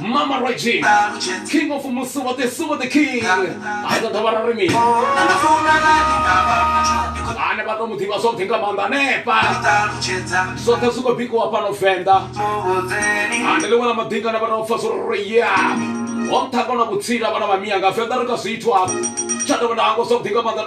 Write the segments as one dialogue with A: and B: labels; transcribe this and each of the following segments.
A: mama regina king of musuva the suva the king a ḓo dovha ra ri mini ane vha to mu ḓivha zwavhuḓi nga maanḓa hanefha zwoṱhe zwi khou bikiwa fhano venḓa ande ḽiṅwe ḽa maḓinga ane vha tou pfa zwo ri ya ho nṱhanga na vhutsila vhana vha miya nga venḓa ri kha zwithu hafhu tsha tovha na hango zwavhuḓi nga maanḓa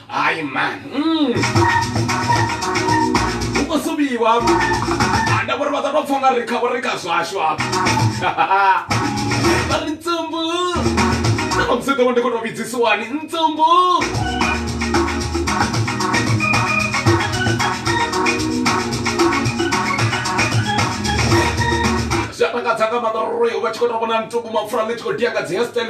A: hayi man mm. hu khou suvhiwa anda vhori vha ḓo tou pfha nga ri kha vho ri kha zwashu hafha vha ri tsumbu na vhamusi ḓo vha ndi khou tou vhidzisiwani ntsumbu zwi a takadza nga maḓa roi u vha tshi khou tou vhona ntuku mapfura ḽi tshi khou dia nga dzi hestel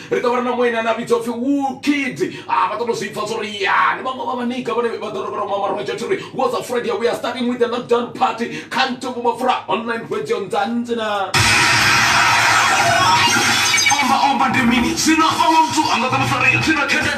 A: ri ḓo vha ri na mueni ane a vhidzwa upfhi woodkid a vha ṱoḓo zwi pfa zwo ri ya ni vhaṅwe vha vhanika vhane vha ḓo rovhera mama roja thi ri was a friday we are starting with the lockdown party kha ntombo mapfura online radio nzanzi na omba omba ndi mini zwino vhaṅwe muthu a nga ḓo musa ri thina tshende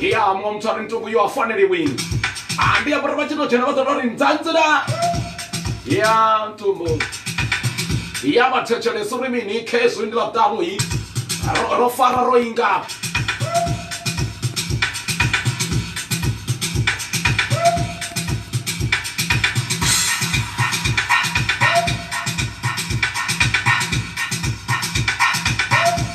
A: ya muṅwe muthu a ri ntungu yo a faneliwi a ndi ambara vha tshi to dzhena vha ḓoto ri ndzandzela ya ntumbu ya vha thetshelesa uri mini khezwi ndi ḽaṱanu i ro- ro fara ro inga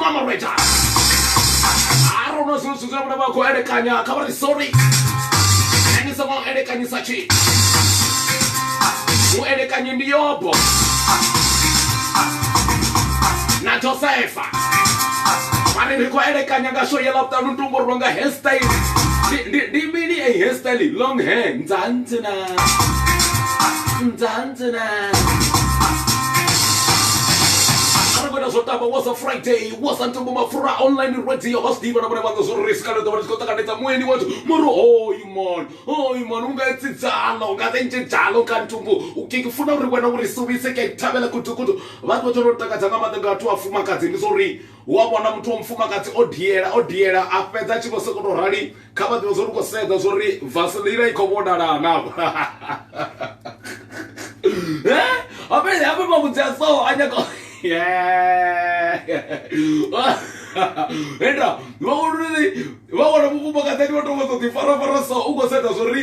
A: mamareja arona zwino zwithu zwine vhone vha khou elekanya kha vha ri sorry ni songo elekanyisa tshi u elekanye ndi yobo na josefa vha ri ri khou elekanya nga sho yela vhuṱanu ntumbo ri longa hairstyle ndi mini a hairstyle long hair nzanzi na nzanzi aragona zwo tamba was a friday was a ntombo mafura online radio vha zwiḓivha na vhone vhaṋa zwo ri sikale ḓovha ri tshi khou ṱanganedza mueni wathu mori hoyu mon hoyu mon unga etsidzala unga zenjejala unga ntombo ukeke funa uri wena uri suvise ke thabela kutukutu vhathu vha tshono takadza nga maḓa nga vhathu vhafumakadzi ndi zwo ri wa vhona muthu wa mufumakadzi o diela o diela a fhedza a tshi vho sokoto rali kha vha ḓivhe zwo ri khou sedza zwo ri vaselina i khou vhonala na hafhe hafhe mavhudzi a so a nyaka enda vha uri vha wana mufumakadzani vha tou vha ḓo ḓi farafara so u khou sedza zwo ri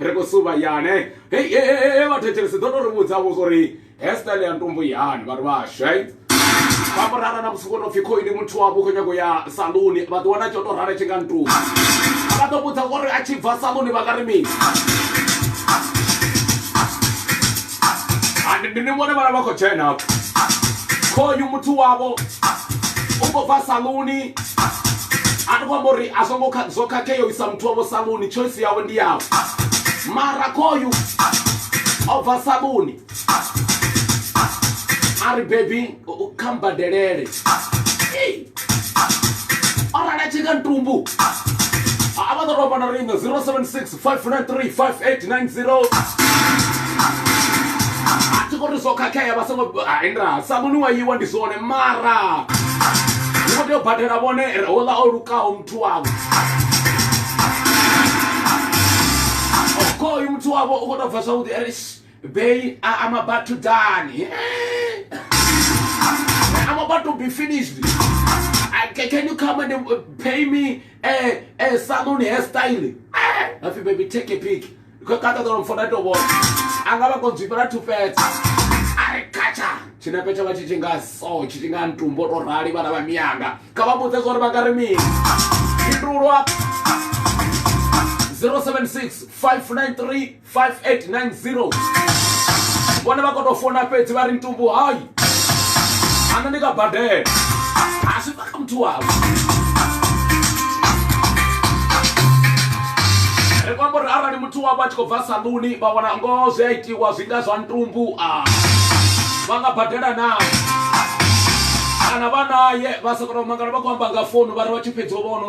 A: ri khou suvha yane hei hei vha thetshelese ḓo tou ri vhudza vho uri hair style ya ntumbu yani vha ri vhashu hei vha vho rara na musuku no pfhi khoi ndi muthu wavho khou nyago ya saluni vha ḓi wana tsho to rara tshi nga ntumbu vha ḓo vhudza uri a tshi bva saluni vha nga ri mini ndi ni vhone vhala vha khou dzhena khoyu muthu wavho u khou bva saluni a ndi khou amba uri a songo zwo khakhea u isa muthu wavho saluni choice yavho ndi yavho mara khoyu o bva saluni a ri bebi kha mbadelele o rala tshika ntumbu a vha ḓo tou amba na riṋe 076 593 5890 a thi kori zwo khakhea vha songo hai nda saluni wa yiwa ndi zwone mara ni khou tea u badela vhone hola o lukaho muthu wavho khoyu muthu wavho u khou tou bva zwavhuḓi ere bay am about to done am about to be finished I, can you come and pay me eh eh saluni hair style eh happy baby take a pic ko kata dolo mfona to bona anga vha konzwipa na tufetse ari kacha tshinepe tsho vha tshi tshi nga so tshi tshi nga ntumbo to rali vhana vha miyanga kha vha vhudze zwori vha nga ri mini fhindulwa 076 593 5890 vhone vha khou tou fona fhedzi vha ri ntumbu hayi ana ndi nga badela a si baka muthu wavho ri kwamba uri arali muthu wavho a tshi khou bva saluni vha wana ngoho zwi a itiwa zwi nga zwa ntumbu a vha nga badela na kana vha naye vha sa kona u mangala vha khou amba nga founu vha ri vha tshi fhedzi u vhona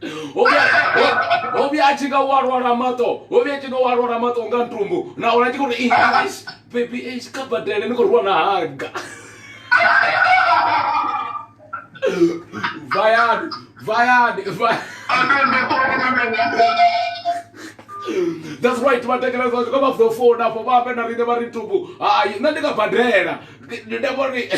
A: ho vhuya a tshi nga wa lwala maṱo ho vhuya tshi nga wa lwala maṱo nga ntumbu na ola tshi khou ri bebi kha badele ni khou ri wana haga vayani vayani that's right vatekela zvacho ka vazofona fo va ambe na rine va ri ntumbu hayi nna ndi nga badela ndavori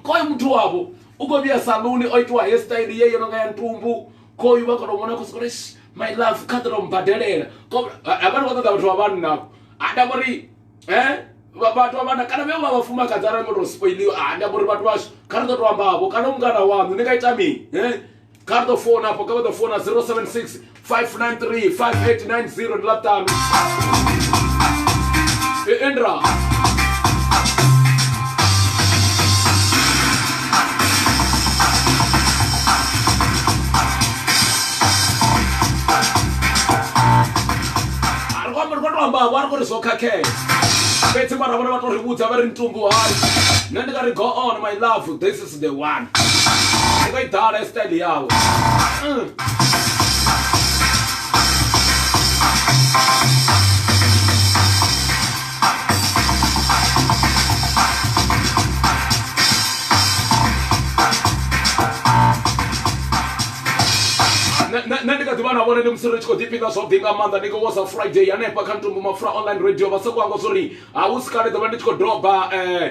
A: koye muthu wavo u khou vhuya saluni o itiwa hairstyle ye yo no nga ya ntumbu khoyu vha kono mona khosoko ri my love kha ḓo mbadelela havhani vha ṱoḓa vhathu vha vhanna ha nda vhori he vhathu vha vhanna kana vhe vha vhafumakadzi arali ngo to spoiliwa ha nda vhori vhathu vhashu kha ri ḓo to amba vho kana mungana waṋu ni nga ita mini he kha ri ḓo fona afho kha vha ḓo fona 076 593 5890 ndi ḽa ṱanu e endra vhavho a ri kuri zwo khakhea fhedzi mara vhone vha to ri vhudza vha ri ntumbu hai nṋe ndi nga ri go on my love this is to the one iko i ḓala ya style yawe Mm. Nṋe- nṋe nṋe ndi kha ḓivha na vhone ndi musi ri tshi khou ḓifhinga zwavhuḓi nga maanḓa ndi khou wosa friday hanefha kha ntumbu mapfura online radio vha sokou anga zwo ri ha hu si kale ḓo vha ndi tshi khou doba um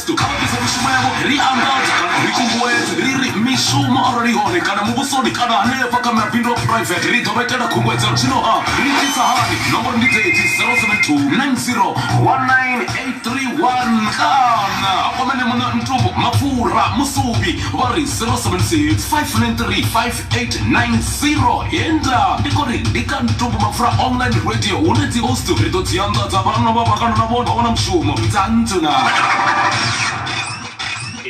A: Kristo. Kha vha ḓise mishumo yavho ri anḓadze kana ri kunguwedze ri ri, Mishumo arali i hone, kana muvhusoni kana hanefha kha mabindu a phuraivethe, ri ḓo vha itela khunguwedzelo. Zwino-ha ri itisa hani? Nomboro ndi dzedzi, 0729019831 kana vha kwamele Muṋe Ntumbo Mapfura Musuvhi vha ri, 07659358. 890 he nda ndi khou ri ndi kha ntumbu mapfura online radio hune dzi host ri ḓo dzi anḓadza vhanna vha vhakando na vhone vha wana mushumo dza nnḓu na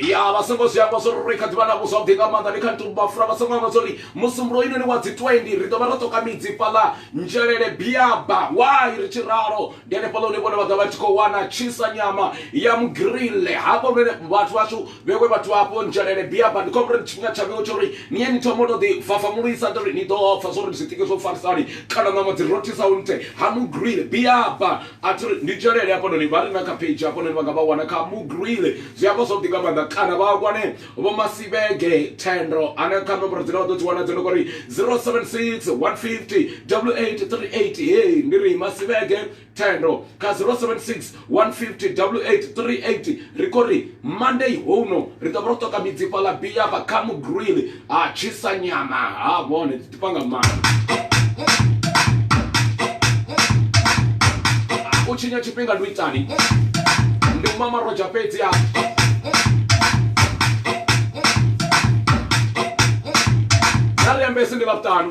A: ya vha songo zwi hangwa zwori ri kha ḓivha navho zwavhuḓi nga maanḓa ndi kha ntumbu mapfura vha songo hangwa zwori musumbulo oinoni wa dzi 20 ri ḓo vha ro ṱoka midzi fhaḽa nzhelele biaba wai ri tshi ralo ndi hanefhaḽa hune vhone vha ḓa vha tshi khou wana tshisa nyama ya mugirille hafha hune vhathu vhashu vhewe vhathu vha hafho nzhelele biaba ndi khombo uri tshifhinga tsha vhewe tsho uri ni ye ni thoma u to ḓi fafamulisa uri ni ḓo pfa zwo uri zwiṱike zwo farisa hani kana ṋama dzi rothisaho nṱhe ha mugrile biaba a thi ri ndi nzhelele hafhanoni vha re na kha page hafhanoni vha nga vha wana kha mugrile zwi amba zwavhuḓi nga maanḓa kana vha wane vho masivhege thendo ane kha nomboro dzine vha ḓo dzi wana dzo no kori 076 150 8838 hei ndi ri masivhege Thendo kha 076 150 8838 ri khou ri Monday houno ri ḓo vha ro ṱoka midzi fhaḽa bi yafha kha mugrill ha tshisa nyama ha vhone dzi ḓifha nga maanḓa u tshinya tshifhinga ndi u itani ndi u mama rodzha fhedzi a na ri ambesi ndi ḽavhuṱanu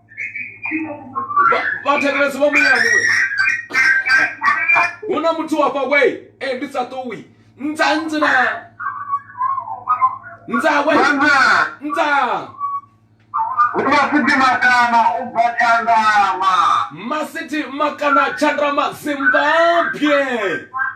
A: Vha- vhathetshelesi vha muyani we hu na muthu wafha we e ndi sa ṱuwi ntsa ntsi na ntsa we Mama, ntsa unasiti makana ubva Tshandama. masithi makana tshandama zimbabwe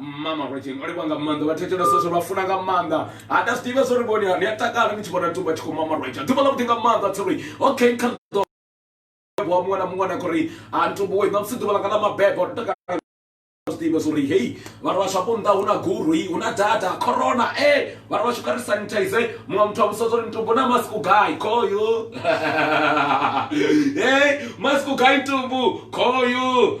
A: mama rogin o livha nga maanḓa vha thetshelesa zwo vha funa nga maanḓa ha nda zwi ḓivha zwo ri vhoni ni a takala ni tshi vhona tumba tshi khou mama roja ḓuvha ḽa vhuḓi nga maanḓa tsori okay kha ḓo wa muṅwe na muṅwe na khori ha ntumbuwe ṋamusi ḓuvha ḽanga ḽa mabebo ndo takala zwiḓivha zwouri hei vhathu vhashu afho nnḓa hu na gurui hu na data corona e eh, vhathu vhashu kha ri sanitize muṅwe muthu a vhusa zwouri ntumbu na masiku gai khoyu e eh, masiku gai ntumbu khoyu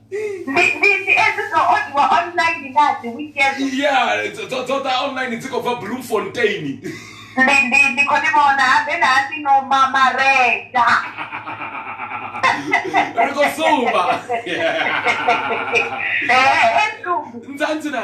A: ndi ndi ndi edzi dzo odiwa online na dzi wiki edzo ya dzo- dzo dzo ḓa online dzi khou bva bloemfontein ndi ndi ndi khou ndi vhona habe na hasi no ma mareda ri khou sumba Eh, eh, sumbi. nzanzi na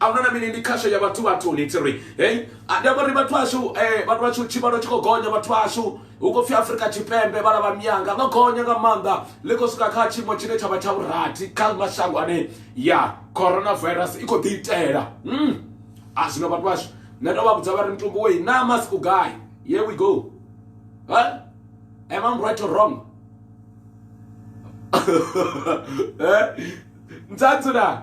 A: ahuna na mini ndi khasho ya vhathu vhathuni tsi ri hei ndi amba ri vhathu ashu eh, vhathu vhashu tshivhalo tshi khou gonya vhathu ashu hu khou pfhi afrika tshipembe vhala vha mianga ḽo gonya nga maanḓa ḽi khou swika kha tshiimo tshine tsha vha tsha vhurathi kha mashango ane ya coronavirus i khou ḓi itela mm. a zwino vhathu vhashu nṋe ndo vha vhudza vha ri mutumbu wei na masku gai here we go huh? am i right or wrong eh? ntsatsu na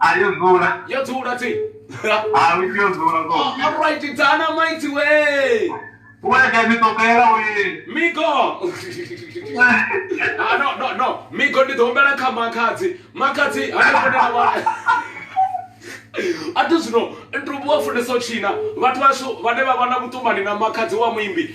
A: Ah, yo dzula. yo dzula thi Ah, wiki yo dzula ko. alright dzana maiti we Uwe ka mi tokela we. migo Ah, no no no migo ndi ḓo humbela kha makhadzi makhadzi hanefhonela vha a thi zwino ntubu wa funesa u tshina vhathu vhashu vhane vha vha na vhuṱumani na makhadzi wa muimbi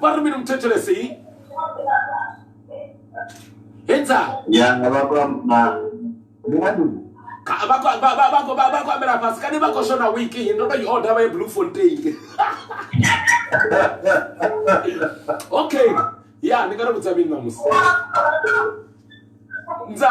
A: vha ri mini muthetshelesi hands up ya vha khou amba vha khou ambela fhasi kani vha khou shona wiki ndo tou i order vha ye blue fontain okay ya ni nga ri vhudza mini ṋamusi nza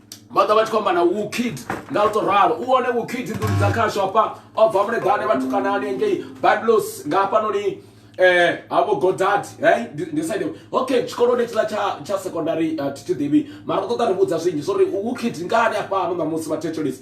A: vha ḓa vha tshi khou amba na wukid nga u tou ralo u one wukid nḓuni dza khashu hafha o bva muleḓane vhathukanani engei biblos nga hafhanoni eh habo godad hey ndi side okay tshikoloni tshiḽa tsha tsha secondary uh, thi tshi ḓivhi mara ṱoḓa ri vhudza zwinzhi so ri wukid ngani hafha ano ṋamusi vha thetshelisi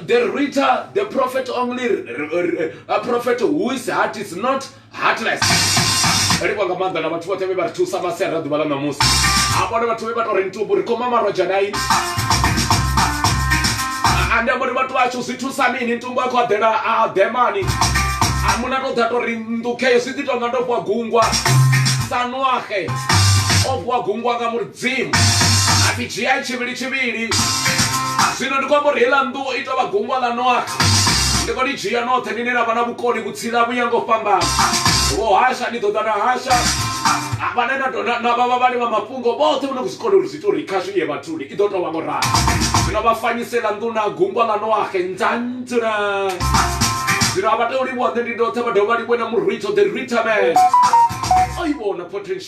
A: The Rita, the prophet only, a prophet who is heart is not heartless. ri vhanga maanḓa na vhathu vhoṱhe vhe vha ri thusa masiari a ḓuvha ḽa ṋamusi a vhone vhathu vhe vha tou ri ntubu ri khoma marwedzha na ini ande amba uri vhathu vhashu zwi thusa mini ntumbu a khou aḓela a ḓemani muna tou ḓa tou ri nḓukheyo zwi ḓi tonga ndo fhiwa gungwa sanuahe o fhiwa gungwa nga muri dzimu a ḓi dzhia tshivhili tshivhili zwino ndi khou amba uri heiḽa nnḓu i tou vha gungwa ḽa noaha ndi khou ḽi dzhia noṱhe nine na vha na vhukoni vhutsila vhu ya ngo fhambana vho hasha ni ḓo ḓa na hasha vhane na na vha vhavhali vha mafhungo vhoṱhe vho no khou zwi kona uri zwi ita uri khashu iye vhathuni i ḓo tou vha ngo ralo zwino vha fanyisela nnḓu na gungwa ḽa noahe ndzandzula zwino a vha tei u livhuwa nṋe ndi ndoṱhe vha dovha vha livhuwe na murwitho the ritaman o i vhona potential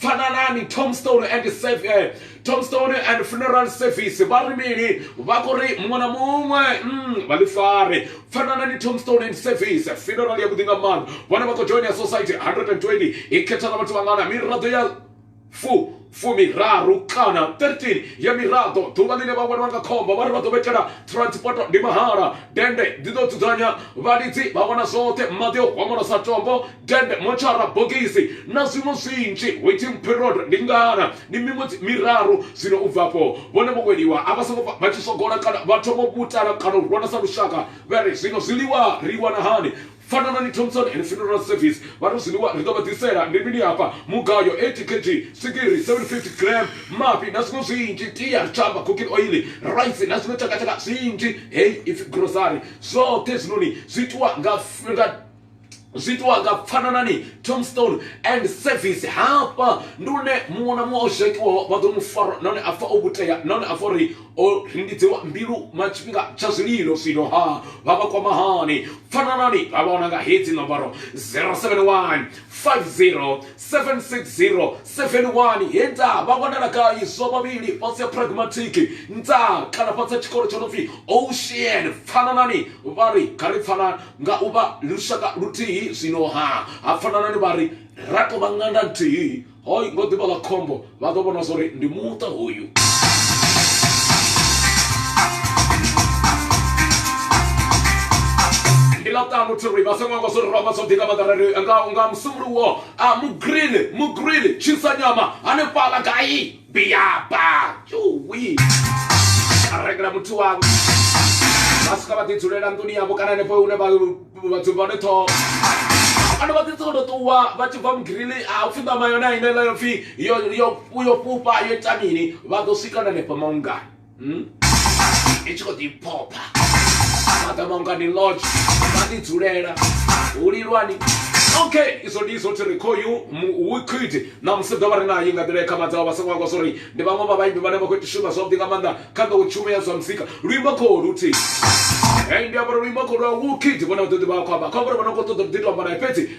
A: Fananani, Tombstone and Save, eh, Tombstone and Funeral Service vha ri mini vha khou ri muṅwe na muṅwe mm, vha ḽi fare Fananani, Tombstone and Service funeral ya vhuḓi nga maanḓa vhone vha khou joina society 120 i khetha na vhathu vhangana miraḓo ya fu fumiraru kana 13 ya miraḓo ḓuvha ḽine vha welwa nga khombo vha ri vha ḓo vhetela transport ndi mahala dende ḽi ḓo dzudzanya vhalidzi vha wana zwoṱhe maḓi o homolosa tombo tende motshara bogisi na zwiṅwe zwinzhi waiting period ndi ngana ndi miṅwedzi miraru zwino u bva afho vhone vho weliwa a vha songo vha tshi sogola kana vha thoma u vutala kana u rwana sa lushaka vha ri zwino zwiḽiwa ri wana hani fananani thompson and funeral service vha ri zwiḽiwa ri ḓo vha ḓisela ndi mini hafha mugayo 80 kg swigiri 750 gram mafhi na zwiṅwe zwinzhi tia ri tshamba cooking oil rice na zwiṅwe tshakatshaka zwinzhi heyi ipfi grocery zwoṱhe zwinoni zwi itiwa nga nga zwiitwa nga pfananani tombstone and service hafha ndi une muṅwe na muṅwe o zhakiwaho vha ḓo mu farwa nahone a pfa o vhutea nahone a pfa uri o rindidziwa mbilu ma tshifhinga tsha zwililo zwino ha vha vha kwama hani pfananani vha vha wana nga hedzi nomboro 071 50 760 71 he nda vha wanala gai zwo vhavhili fhasi ya pragmatic nda kana fhasi ya tshikolo tsho no pfi ocean pfananani vha ri kha ri pfanani Nga u vha lushaka luthihi zwino-ha, ha fanana ni vha ri, Ra tou vha ṅanda nthihi. Ho ngo ḓi vha ḽa khombo, vha ḓo vhona zwa uri ndi muṱa hoyu. Ndi ḽa ṱanu Thirri, vha sa ṅwangwa zwo ri ramba zwavhuḓi nga maanḓa ra ri nga nga musumbulowo, Mugreen, Mugreen, Tshinsanyama, hanefhaḽa gai? biaba yuwi a rengela muthu wavho vha swika vha ḓi dzulela nḓuni yavho kana henefho hune vha dzumba hone ṱhoho kana vha ḓi sokoto ṱuwa vha tshi bva mugirili a upfhi ṋama yone a inela yo pfhi yo fhufha yo ita mini vha ḓo swika na henefho maungani hmm? i tshi khou ḓi phopha maḓamangu ani lodge vha ḓi dzulela hu lilwani okay izwo ndi izwo thiri khoyu wiquid na musi ḓo vha ri naye nga nḓila khama dzawo vha songo akwa zwo ri ndi vhaṅwe vha vhaimbi vhane vha khou shuma zwavhuḓi nga maanḓa kha ḓo tshumelo ya zwa muzika luimbo khou luthihi ndi amba uri luimbo khou lwa wukid vhone vha ḓo ḓi vha khou amba kha uri vha no khou ṱoḓa u ḓi to amba naye fhedzi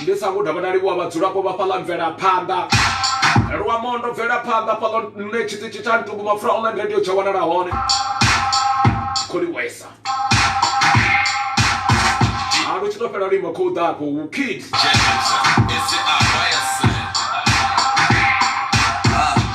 A: ndi sa guda vha na livhuwa vhadzulapo vha fhaḽa mvelaphanḓa luamondo bvelaphanḓa fhaḽo nṋe tshiṱitshi tsha ntugu mapfura online radio tsha wanala hone kholiwesa a lu tshi to fhela luimo khou ḓa afho wu kid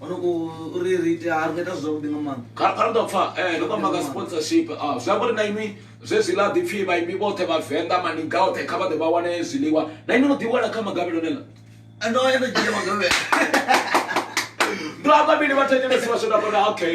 A: uri ri ite ha ri nga ita zwavhuḓi nga maanḓa ra ṱoḓa pfa eh ndo amba nga sponsorship ah zwi amba uri na inwi zwezwi ḽa ḓipfi vhaimbi vhoṱhe vhavenḓa maniga oṱhe kha vha ḓe vha wane zwiḽiwa na inwi no ḓi wana kha magavhelo nela ndo ya ndo dzhia magavhelo ndo amba mini vha thetshelesi vha swona bona okay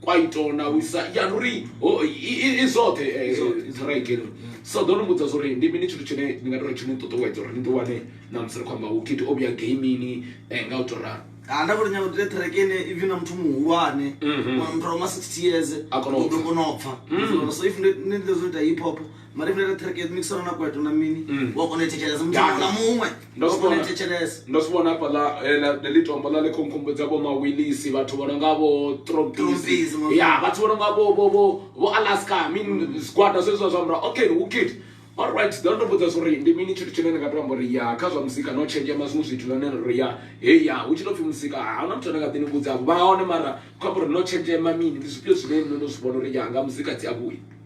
A: kwaito na u isa ya ndi uri i zwoṱhe ṱhiraike uri so ḓo ni mbudza zwauri ndi mini tshithu tshine ndi nga tori tshi ni ṱuṱuwedza uri ni ḓi wane na musi ri khou amba wokiti o vhuya gamini eh, nga u to ralo ha ah, nda kho nyanga ndile track ine even na muthu muhulwane mhm. muthu wa ma 60 years a kona u kona u pfa mhm. so if ndi ndi zwo ita hip hop mari vhulele ṱhireke yo ḓimikisana na kweto na mini mm. wa kona u thetshelesa muthu muṅwe na muṅwe wa kona u thetshelesa ndo si vhona hafhaḽa eh, ḽi tombo ḽa ḽi khonkhombodza vho mawilisi vhathu vho no nga vho trompisi ya vhathu vho no nga vho alaska min mm. zwigwada zwezwa zwa mura okay who kid alright ḓa ndo vhudza zwo uri ndi mini tshithu tshine ni nga to amba uri ya kha zwa muzika no tshenzhema zwiṅwe zwithu nane ri ya he ya hu tshi to pfhi muzika ha huna muthu ane nga ḓi ni vhudza vha hone mara kho amba uri no tshenzhema mini ndi zwifhio zwine no no zwi vhona uri ya nga muzika dzi a vhuya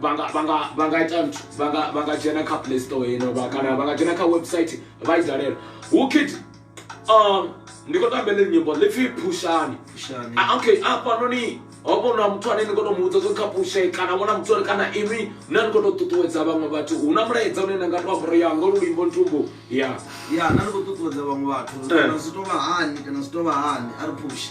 A: vha nga vha nga vha nga ita nthu vha nga vha nga dzhena kha play store ino vha kana vha nga dzhena kha website vha i dalela hu kid um ndi khou tamba ḽi nyimbo ḽi pfhi phushani phushani ah, okay afhanoni ho vha na muthu ane ni khou tou mu vhudza zwo kha pushe kana vhona muthu ane kana inwi na ni khou tou ṱuṱuwedza vhaṅwe vhathu hu na mulaedza une na nga tou amboro ya ngo lulimbo ntumbu ya ya na ni khou ṱuṱuwedza vhaṅwe vhathu eh. kana zwi tou vha hani kana zwi tou vha hani a ri pushe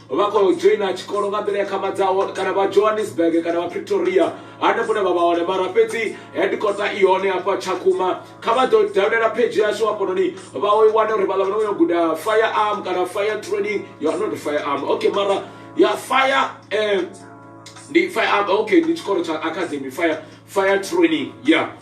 A: vha khou dzhoina tshikolo nga nḓila ya khamadzaho kana vha johannesburg kana vha pretoria hanefho ne vha vha hone mara fhedzi hedikota i hone hafha tshakhuma kha vha ḓo dalela phedzhi yashu hafhanoni vha o i wane uri vhaḽa vha no yo guda fire arm kana fire training ya not fire arm okay mara ya fire um ndi fire arm okay ndi tshikolo tsha academy fire fire training ya yeah.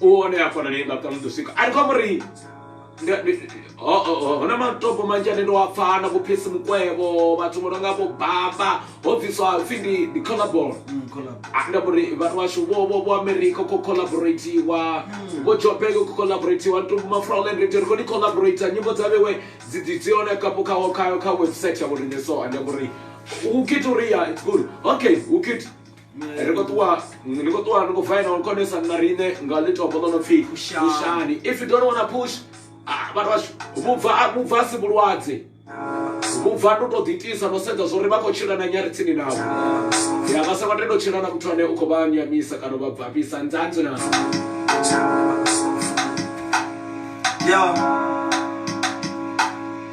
A: u one a fanelei nga kha muḓi swika ari kho amba uri huna matopo manzhi ane ndo a pfha na vho phesi mukwevho vhathu vho no nga vho baba ho bviswa pfhi ndi ndi collabon mm, ah, nda uri vhathu vhashu vho vho vho america kho collaboratiwa mm. vho jobek kho collaboratiwa nto mafroland ri ri kho ni collaborate nyimbo dza vhewe dzi dzi dzi one kha kha kha website ya vho rine so ande uri u kit uri ya it's good okay u kit ri khou ṱuwa ni khou ṱuwa ni khou vaina u konesa na riṋe nga ḽitopo ḽo no pfhi pushani if you don't wanna push ah, vhathu vhashu vhubva ah, vhubva si vhulwadze vhubva ndi u tou ḓiitisa no sedza zwo ri vha khou tshila na nyari tsini navho ya vha sa nga tendo tshila na muthu ane u khou vha nyamisa kana u vha bvafhisa nzanzi na Yeah.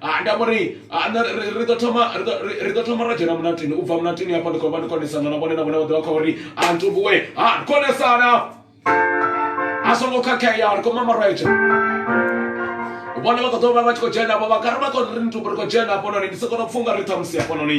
A: Ha nda vho ri ha nṋe ri ri ḓo thoma ri ḓo ri ḓo thoma ra dzhena mulatini u bva mulatini hafho ndi khou vha ndi khou onesana na vhone na vhone vha ḓovha kha uri a ntumbue ha ri khou onesana a songo khakhea ri khou mama rwetshe vhone vha kho ḓo vha vha tshi khou dzhena vho vha kha ri vha khou ri ntumbu ri khou dzhena hafhanoni ndi soko to pfunga ri ṱhamusi hafhanoni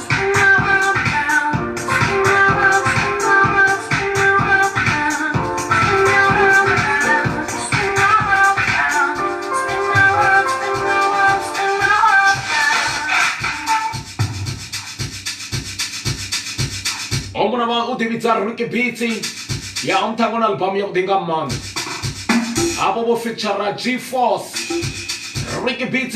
A: humbula vha u ḓivhidza ricky beats ya umthango na albamu ya vhuḓi nga maanḓa hafho vho feature g force ricky beats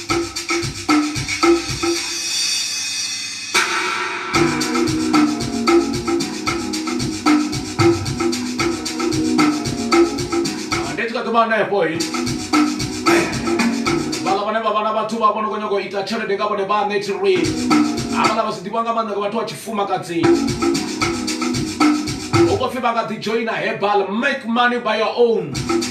A: ndi tshi kha ḓi vha hanefho vhaḽa vhane vha vha na vhathu vha vho no khou nyanga u ita tshelede nga vhone vhaṋe tshirui havhaḽa vha si ḓivha nga maanḓa nga vhathu vha tshifumakadzini u khou pfhi vha nga ḓi dzhoina herbal make money by your own